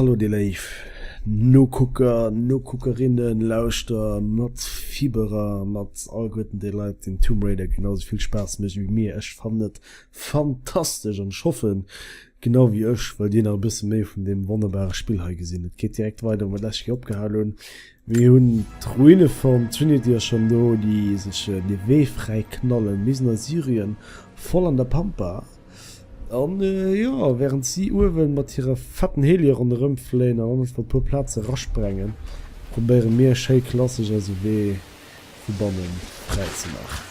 Hallo dir léif Nokucker, Nokuckerinnen, Lauschter, mat Fiberer, mat allguerten déi Leit deen Tomb Raider genau esou vill Spaass mécht ewéi mir. Ech fannen et fantastesch an ech hoffen Genau wéi ech wëll dir nach e bësse méi vun deem wonnerbare Spill hei gesinn. Et geet direkt weider wou mer d'lescht Kéier opgehal hunn. Mir hunn d'Ruine vum Trinity ass schonn do, déi sech de Wee fräi knallen bis no Syrien, voll an der Pampa. An jo, wärend si uewen mat hire fetten Helie ronderëm fléien an einfach e puer Plaze rasprengen, probéiere mir schéi klassesch eise Wee vu bannen fräi ze maachen.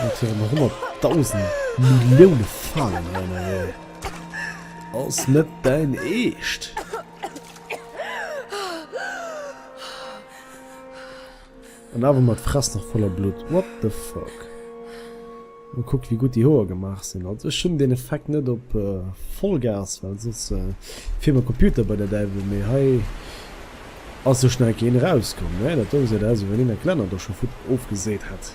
Wat fir en 100.000 Millioune Falen hei ënnerwee ass net däin eescht. An awer mat Fress nach voller Blutt. What the fuck. Mä kuckt wéi gutt déi Hoer gemaach sinn. Also ech hunn deen Effekt net op Vollgas, well soss fiert mer Computer bei der Däiwel. Mee hei ass sou schnell keen erauskomm. Mä dat Dong seet aus, wéi wann een eng Glänner do scho vut ofgeseet hätt.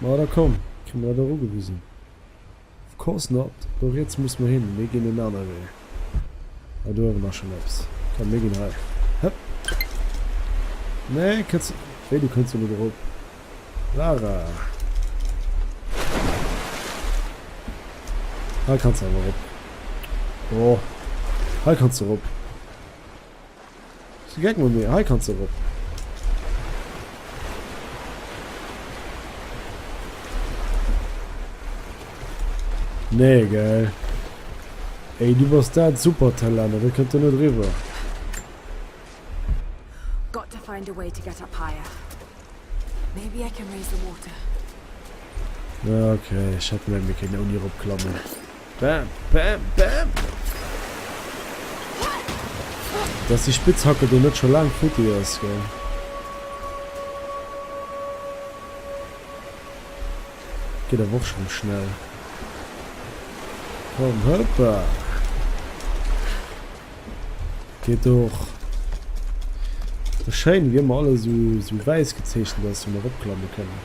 Ma da komm, kritt mer dat och ugewisen. Of course not! Do riets musse mer hin, mir ginn en anere Wee. Ah, do uewen ass schonn eppes. Komm, mir ginn hei. Hëpp! Nee, kënns. Wéi, du kënns do net erop? Lara! Hei kanns de awer erop. Jo, hei kanns de erop. Gek mat mir, hei kanns de erop. Nee gell. Ey du bass dat Supertalent, do kënnt en net eriwwer. Got to find a way to get up higher. Maybe I can raise the water. Ok, ech hätt meng mir kéinten ouni erop klammen. Bam, bam, bam! Dass déi Spitzhacke do net scho laang futti ass, gell? Geet awer och schonn schnell. Komm, hoppa! Geet och. Ass schéin, wéi ëmmer alles esou, esou wäiss gezeechent ass, wou mer eropklamme kënnen.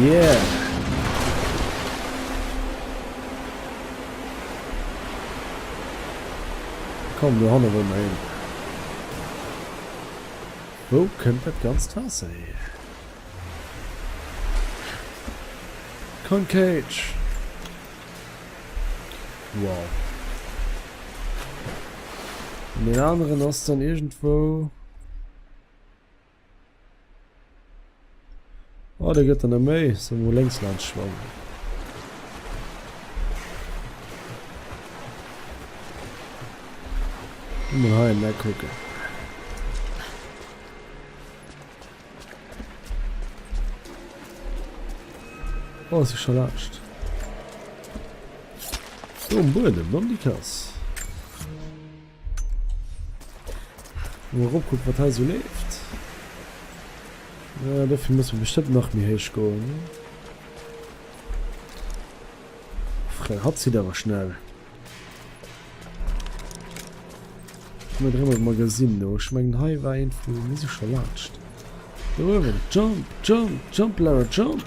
Yeah! Komm, du Hanne wollen wir hin. Wo kommt das ganze Wasser her? Con Cage! Wow. Und den anderen ist dann irgendwo... Oh, der gëtt der net méi. Soll mol lénks laanst schwammen. Mol hei en Eck kucken. Oh, si scho laascht. Do am Buedem, dann déi Kass. Mol erop kucken wat hei sou leeft. Äh dofir muss mer bestëmmt nach méi héich goen. Frère hatt zitt awer schnell. Ech muss rëm op Magazine no. Ech mengen hei war een vu mir si scho laanscht. Do uewen. Jump, jump, jump Lara jump!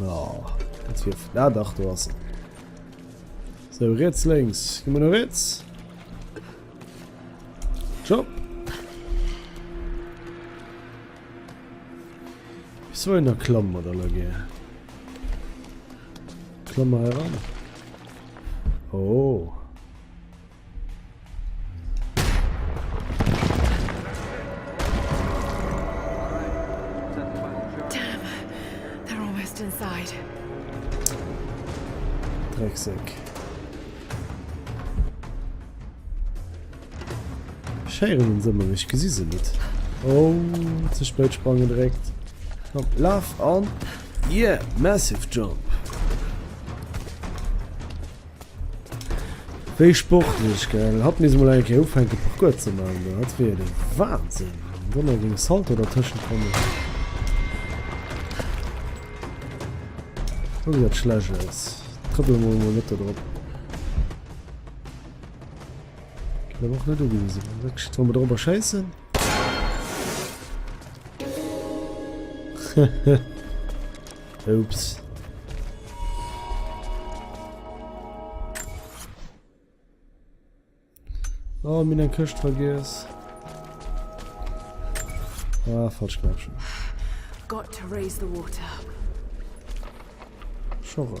Oh, jetzt wird da ah, doch du hast. So, rechts, links. Gehen wir nach rechts. Job. So in der Klamm oder Lage. Klammer heran. Oh. Drecksek. Scheieren se mech gesi se net. Oh ze spët sprang gedréckt. Komm laf an Ie yeah, Massive Jump. Wéi sportlech, gell? Hatt misst mol eng Kéier ufänke Parcours ze maachen do, dat wier jo de Wahnsinn. Am Donner géing e Salto dertëschent kommen. Guck wéi dat schlecht ass. Trëppele mer emol net do drop. Ginn awer och net ugewisen. Wéi soll mer dorobber schéissen? Hehe. Oops. Oh, mir eng Këscht vergiess. Ah, falsch Knäppchen. Got to raise the water. Schorre.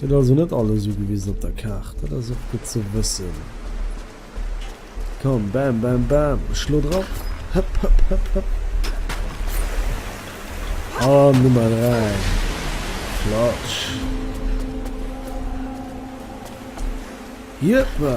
Gëtt also net alles ugewisen op der Kaart, dat ass och gutt ze wëssen. Komm, bam, bam, bam, ech schlo drop, hëpp, hëpp, hëpp, hëpp. An Nummer 3, Flatsch. Jëppa!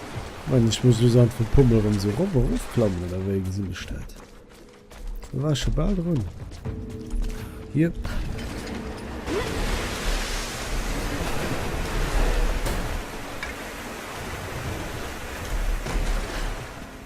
Moment, ech muss lus an vum Pummel rem sou rof erof klammen oder wei gesin ech dat? Do war ech scho bal drun. Jep.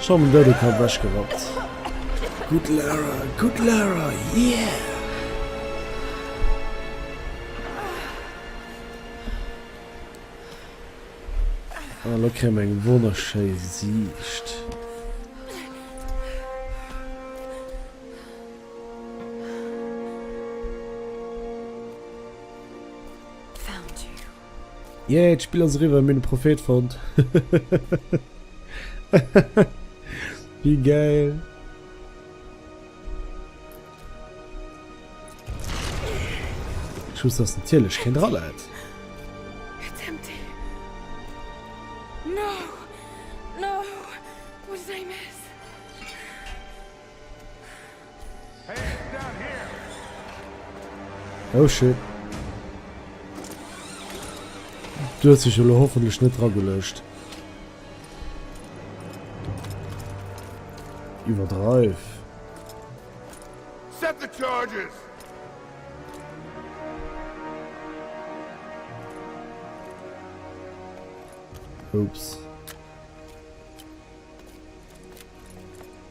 Ech han den douden Kapp wech gerappt. Gudd Lara, gudd Lara, yeah! Ah lo kréie mer eng wonnerschéi Siicht. Yay, d'Spill ass eriwwer, mir hunn de Prophet fonnt. Wéi geil. Schuss ass natierlech keen Rallad. It's empty. No, no, wo sei mes? Oh shit. Du hues dech elo hoffentlech net dragelegt. Iwwerdreif. Set the charges. Oops.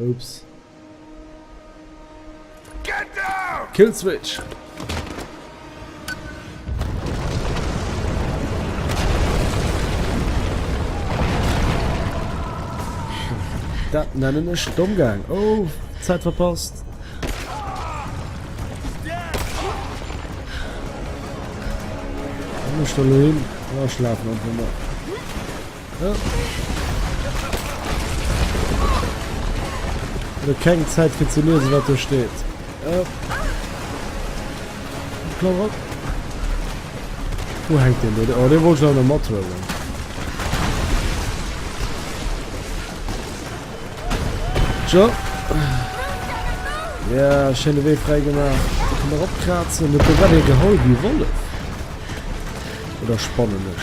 Oops. Kill Switch! Dat nennen ech domm gaang. Oh, Zäit verpasst. Ech sto lo hin. Ech schlafen einfach mol. Lo keng Zäit fir ze liesen, wat do steet. Klammer op. Wou hängt den do? Oh, dee wollt ech awer net mathuelen. Tjo. Ja, schöne Wee frei gemacht. Da kann man opkratzen. Net do war dee geholl, wie Wollef. Oder spannend.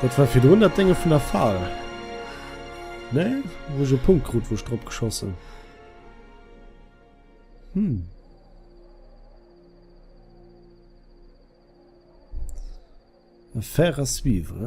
Dat war virdrun dat Dénge vun der Fal. Nee? Wou ech e Punkt krut, wou ech drop geschoss hunn. Hm. Affaire à suivre.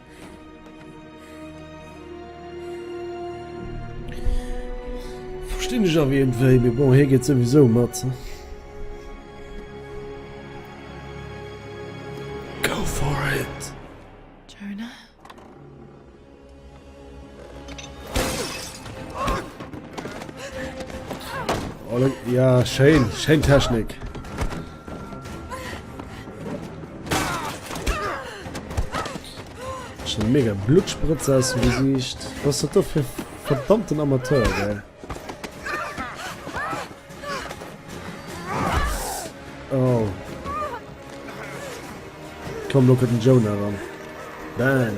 Verstinn ech awer iergendwéi, mee bon, hie geet souwisou mat. Go for it! Jonah? Schéin, schéin Technik. Schon mega Blutspritze aus dem Gesicht. Was hat das für verdammten Amateur, gell? Oh. Komm, look at den Jonah ran. Bam.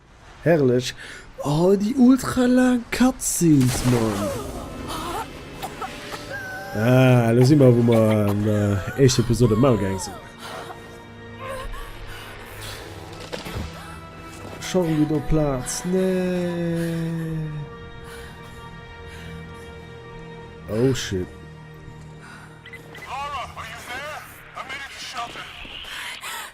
Herrlech! Oh déi ultra laang Cutscenes man! Ah elo si mer wou mer an der éischter Episode mam Maul gaang sinn. Scho rëm gudd op Plaatz? Nee. Oh shit.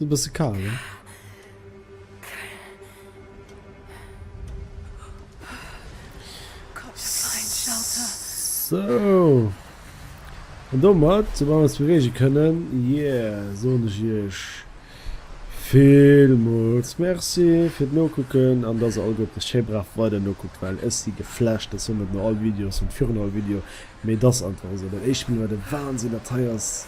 Ass bësse kal, ne? So. An domat, so wann wir es bewegen können, yeah, so und ich euch vielmals merci für das Nachgucken und dass ihr alle gut schön brav weiter nachguckt, weil es die geflasht, das sind nicht nur alle Videos und für alle Video, mir das einfach so. Das erste Mal war der Wahnsinn, das hier ist.